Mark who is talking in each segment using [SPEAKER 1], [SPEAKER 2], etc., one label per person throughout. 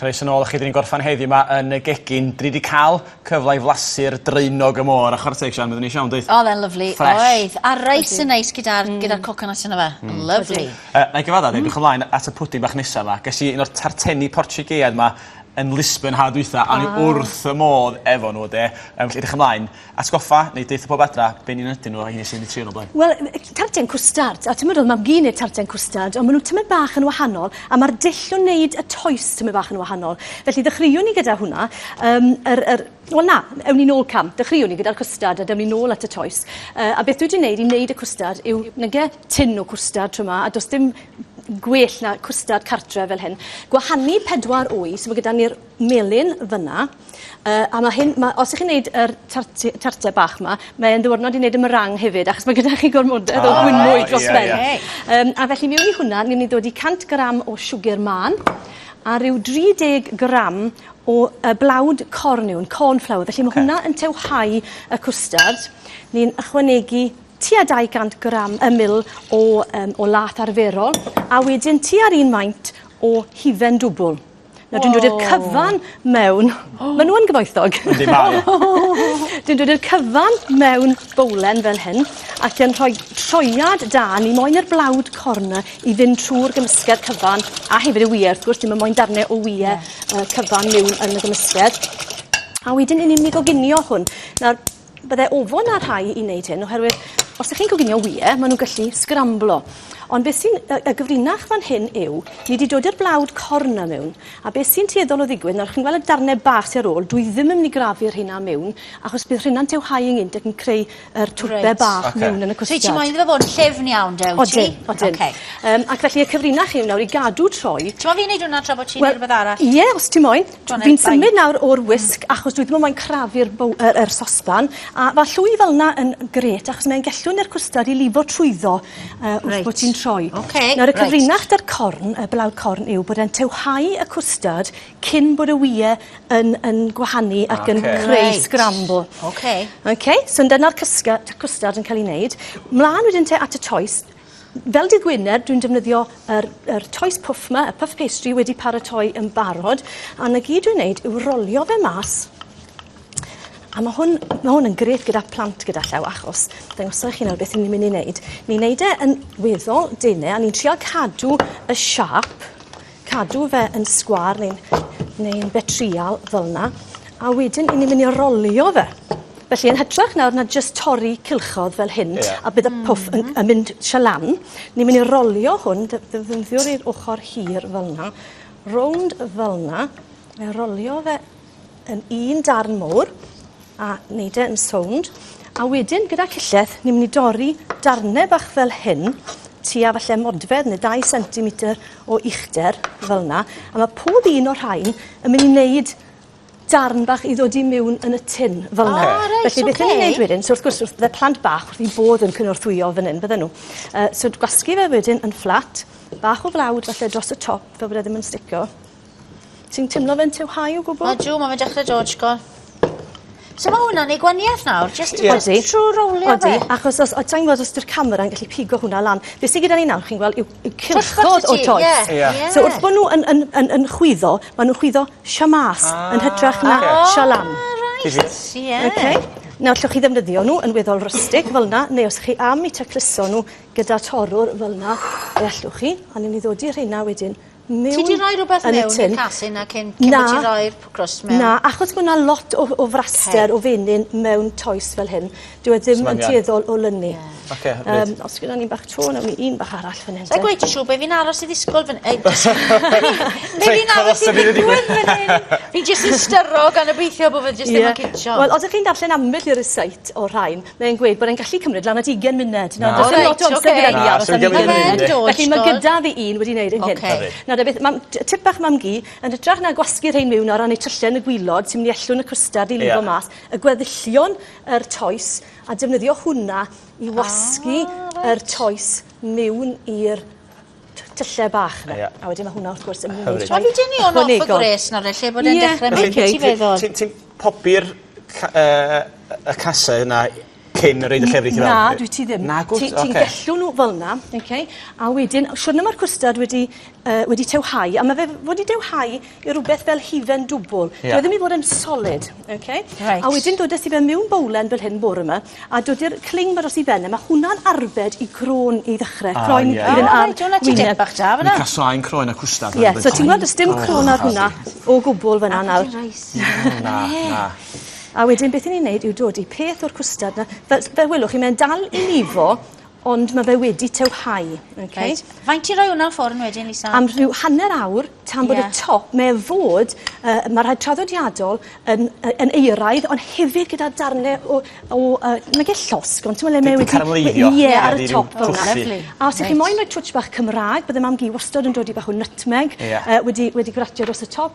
[SPEAKER 1] Croes yn ôl chi, dyn ni'n gorffan heddi yma yn y gegin. Dyn ni wedi cael cyfle i flasu'r draenog y môr a chwarae Sian, byddwn ni siawn, dweud? Oedd e'n lyflu, oedd.
[SPEAKER 2] A reis yn neis gyda'r mm. gyda coconut yna fe. Mm. Lyflu. Uh, na i gyfadda, mm.
[SPEAKER 1] ymlaen at y pwdi bach nesaf yma. Ges i un o'r tarteni portugeiad yma yn Lisbon ha dwytha, a ni ah. wrth y modd efo nhw, de. Um, felly, edrych ymlaen. Atgoffa neu deutha pob adra be ni'n ynadu nhw o heini sydd wedi trio nhw o blaen. Wel yy tarten
[SPEAKER 3] cwstard a t'mod o'dd mam gu neud tarten cwstard on' ma' nw tymed bach yn wahanol a ma'r dull o neud y toes tymed bach yn wahanol. Felly ddechreuon ni gyda hwnna yym yr yr wel na ewn ni nôl cam dechreuon ni gyda'r cwstard a dewn ni nôl at y toes yy a beth dwi 'di neud i neud y cwstard yw nage tin o cwstard t'mo' 'ma a do's dim gwell na cwstard cartre fel hyn gwahanu pedwar wy so ma' gyda ni'r melyn fyn 'na Yy a ma' hyn ma' os y'ch chi'n neud yr tart tarte bach 'ma mae e'n ddiwrnod i neud y meringue hefyd achos ma' gyda chi gormodedd o fwynwy dros ben. O reit. Yym a felly miwn i hwnna ni myn' i dodi 100 gram o siwgyr mân a ryw 30 gram o yy blawd corn yw 'wn corn flour felly ma' hwnna yn tewhau y cwstard. Ni'n ychwanegu tua 200 gram yy mil o yym o lath arferol a wedyn tua'r un faint o hufen dwbwl. Nawr dwi'n dod i'r cyfan mewn... O! Ma' n'w yn gyfoethog.
[SPEAKER 1] Yndi mae e. Dwi'n
[SPEAKER 3] dod i'r cyfan mewn bowlen fel hyn ac yn rhoi troiad da ni moyn i'r blawd corn 'na i fynd trw'r gymysgedd cyfan a hefyd y wye wrth gwrs ti'm yn moyn darne o wye... Ie. ...yy cyfan miwn yn y gymysgedd. A wedyn 'yn ni'n myn' i goginio hwn. Nawr Bydde ofon ar rhai i wneud hyn oherwydd os ych chi'n coginio wyau, maen nhw'n gallu sgramblo. Ond beth sy'n y, y gyfrinach fan hyn yw, ni wedi dod i'r blawd corn na mewn, a beth sy'n tueddol o ddigwydd, nawr chi'n gweld y darnau bach sy'n ar ôl, dwi ddim yn mynd i grafu'r rheina mewn, achos bydd rheina'n tewhau yngynt ac yn creu yr twpe right. bach okay. mewn yn y cwstiad. So ti moyn iddo fod yn llefn
[SPEAKER 2] iawn, dew ti? Odyn, odyn. Okay. Um,
[SPEAKER 3] ac felly y cyfrinach yw nawr i gadw troi. Ti'n moyn fi wneud hwnna tra bod
[SPEAKER 2] ti'n well, rhywbeth arall? Ie, yeah, os ti moyn.
[SPEAKER 3] John Fi'n symud nawr o'r wisg mm. achos dwi ddim yn moyn crafu'r yr, yr sosban. A fa llwy fel yna yn gret achos mae'n gellwn i'r cwstard i lifo trwyddo uh, wrth right. bod ti'n troi. Okay. Nawr y right. cyfrinach da'r corn, y blawd corn yw bod e'n tewhau y cwstard cyn bod y wyau yn, yn gwahanu ac okay. yn creu right. scramble. Okay. Okay, so dyna'r cwstard yn cael ei wneud. Mlaen wedyn te at y choice, Fel dydd Gwener, dwi'n defnyddio yr, yr toes puff ma, y puff pastry wedi paratoi yn barod, a na gyd dwi'n neud yw rolio fe mas. A mae hwn, mae hwn yn grêt gyda plant gyda llaw, achos dangosau chi nawr beth ni'n mynd i wneud. Ni'n neud e yn weddol dene, a ni'n trial cadw y siap cadw fe yn sgwar neu'n neu betrial fel yna, a wedyn i ni'n mynd i rolio fe. Felly yn hytrach nawr na jyst torri cilchodd fel hyn yeah. a bydd y pwff yn, yn mynd sio lan, ni'n mynd i rolio hwn, ddefnyddiwr i'r ochr hir fel yna, rownd fel yna, a rolio fe yn un darn mowr a wneud e yn sownd. A wedyn gyda cillell, ni'n mynd i dorri darnau bach fel hyn, tua falle modfedd neu 2 cm o uchder fel yna. A mae pob un o'r rhain yn mynd i wneud darn bach i ddod i mewn yn y tin fel yna. Ah, reit, Felly beth okay. ni'n gwneud wedyn, so wrth gwrs, wrth, fe plant bach wrth i bod yn cynorthwyo fan hyn, bydden nhw. Uh, so gwasgu fe wedyn yn fflat, bach o flawd falle dros y top, fel bod e ddim yn sticio. Ti'n timlo fe'n too high o gwbwl? Odw ma' fe'n dechre dod
[SPEAKER 2] shgwr. So ma' hwnna'n neu' gwanieth nawr jyst Ie. Odi. Jyst trw rowlio fe. Odi achos os o- sai'n gwbod
[SPEAKER 3] os 'di'r camera yn gallu pigo hwnna lan. Be' sy gyda ni nawr chi'n gweld yw yw cylchgod o toes. Ie. Ie. Ie. So wrth bo' n'w yn yn yn yn chwyddo ma' nw'n chwyddo shamaas. Ah. Yn hytrach na... Oce. ...shalam. O reit. Difyr. Ie. Oce? Nawr allwch chi ddefnyddio n'w yn weddol rustic fel 'na neu os chi am 'u tacluso n'w gyda torwr fel 'na fe allwch chi a newn ni ddodi rheina wedyn Ti di rhoi
[SPEAKER 2] rhywbeth mewn i'r casyn a cyn cyn bod ti'n rhoi'r crust mewn? Na, achos mae yna lot
[SPEAKER 3] o, o fraster o fenyn mewn toes fel hyn. Dyw e ddim yn tueddol o lynu. Ocê, hyfryd. Um, os gyda ni bach to, nawn ni un bach arall fan hyn. Sa'n gweud ti siw, be fi'n aros
[SPEAKER 2] i ddisgwyl fan... Ei, be fi'n aros i ddigwydd fan hyn? Fi jyst yn styro gan obeithio bod fe jyst ddim yn cicio. Wel, os ydych chi'n darllen ambell
[SPEAKER 3] i recite o'r rhain, Mae'n gweud bod e'n gallu cymryd lan at ugen munud. Nawr does dim lot o amser gyda fi aros am ugen munud. Felly ma' gyda fi un wedi neud e'n gynt. Oce. Nawr de beth mam- t- tip bach mam-gu yn hytrach na gwasgu rhein miwn o ran eu tyllau yn y gwilod sy'n myn' i ellw'n y cwstard i lifo mas y gweddillion yr toes a defnyddio hwnna i wasgu yr toes miwn i'r tylle bach 'na. Ie. A wedyn ma' hwnna wrth gwrs yn mynd i... Wel fi'n deulu o'n off y
[SPEAKER 2] gwres nawr felly bod e'n dechre mynd i ti feddwl.
[SPEAKER 1] Ti'n
[SPEAKER 2] ti'n
[SPEAKER 1] popi'r lla- yy y
[SPEAKER 2] case
[SPEAKER 1] yna
[SPEAKER 2] cyn
[SPEAKER 1] y roid y llefrith i fewn? Na dwyt ti ddim. Nagwt? Oce.
[SPEAKER 3] Ti ti'n gallu
[SPEAKER 1] n'w fel
[SPEAKER 3] 'na oce a wedyn o siwrne ma'r cwstard wedi yy wedi tewhau a ma' fe fod i dewhau i rwbeth fel hufen dwbwl. Ie. Dyw e ddim i fod yn solid oce? Reit. A wedyn dod â ti fe miwn bowlen fel hyn bore 'ma a dodi'r cling 'ma dros 'i ben e ma' hwnna'n arbed i gro'n i ddechre. A ie. Croen i fyn' ar wyneb. O reit o' 'na tipyn bach da fan 'na. Mi gasai'n
[SPEAKER 1] croen a cwstard fel arfer. Ie so ti'n gweld do's dim
[SPEAKER 3] cro'n ar hwnna o gwbwl fan 'na nawr. Na
[SPEAKER 1] na. A
[SPEAKER 3] wedyn beth 'yn ni'n neud yw dodi peth o'r cwstard 'na fel s- fel welwch chi mae'n dal i lifo Ond mae fe wedi tywhau. Okay. Right. Faint ti
[SPEAKER 2] roi hwnna ffwrn wedyn, Lisa? Am rhyw hanner awr,
[SPEAKER 3] tan bod yeah. y top, mae e fod, uh, mae rhaid traddodiadol yn, yn eiraidd, ond hefyd gyda darnau o, o uh, mae gen llosg, ond ti'n meddwl le mae wedi... Caramleiddio. Ie, yeah, ar y
[SPEAKER 1] top.
[SPEAKER 3] Oh, lovely. A os ydych chi'n moyn rhoi twtch bach Cymraeg, byddai mam gi wastod yn dod i bach o nutmeg yeah. uh, wedi, wedi gratio dros y top.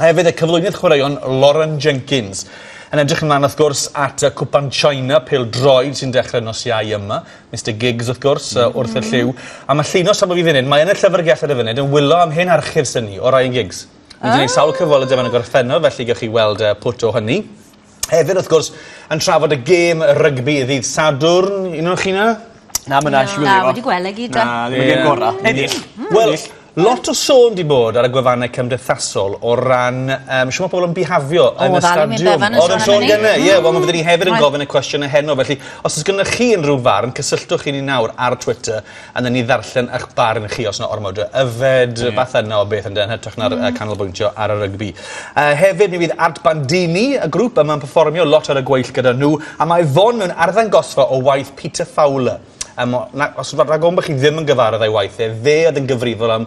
[SPEAKER 4] A hefyd y cyflwynydd chwaraeon Lauren Jenkins. Yn edrych ymlaen wrth gwrs at y Cwpan China pel droed sy'n dechrau nos Iau yma. Mr Giggs wrth gwrs mm. wrth y lliw. A mae llinos safon fi funud, mae yn y llyfrgell ar y funud yn wylo am hen archif syni o Ryan Giggs. Ni wedi gwneud sawl cyfweld y dyma yn y gorffennol, felly gewch chi weld uh, pwt o hynny. Hefyd, wrth gwrs, yn trafod y gêm rygbi ddydd Sadwrn. Un o'n chi 'na? Na ma' Nash
[SPEAKER 1] Na, wedi gwel' e gyd 'da. Na
[SPEAKER 2] ddim y gem gora.
[SPEAKER 1] Ennill. Hmm. Wel
[SPEAKER 4] lot o sôn 'di bod ar y gwefanne cymdeithasol o ran yym shwt ma' pobol yn bihafio yn y stadiwm. O'dd Alun Wyn Bevan yn sôn gynne ie wel ma' fe 'dy ni hefyd yn gofyn y cwestiwn e heno felly os o's gynnoch chi unryw farn cysylltwch â ni nawr ar Twitter A newn ni ddarllen 'ych barn chi os 'na ormod o yfed rwbath yna o beth on'd yw e yn hytrach na'r yy canolbwyntio ar y rygbi. Yy hefyd mi fydd Art Bandini y grŵp yma'n perfformio lot ar y gweill gyda nhw a mae Fon mewn arddangosfa o waith Peter Fowler. Yym o- na- os ma' rhag ofn bo' chi ddim yn gyfarwydd â'i waith e, fe oedd yn gyfrifol am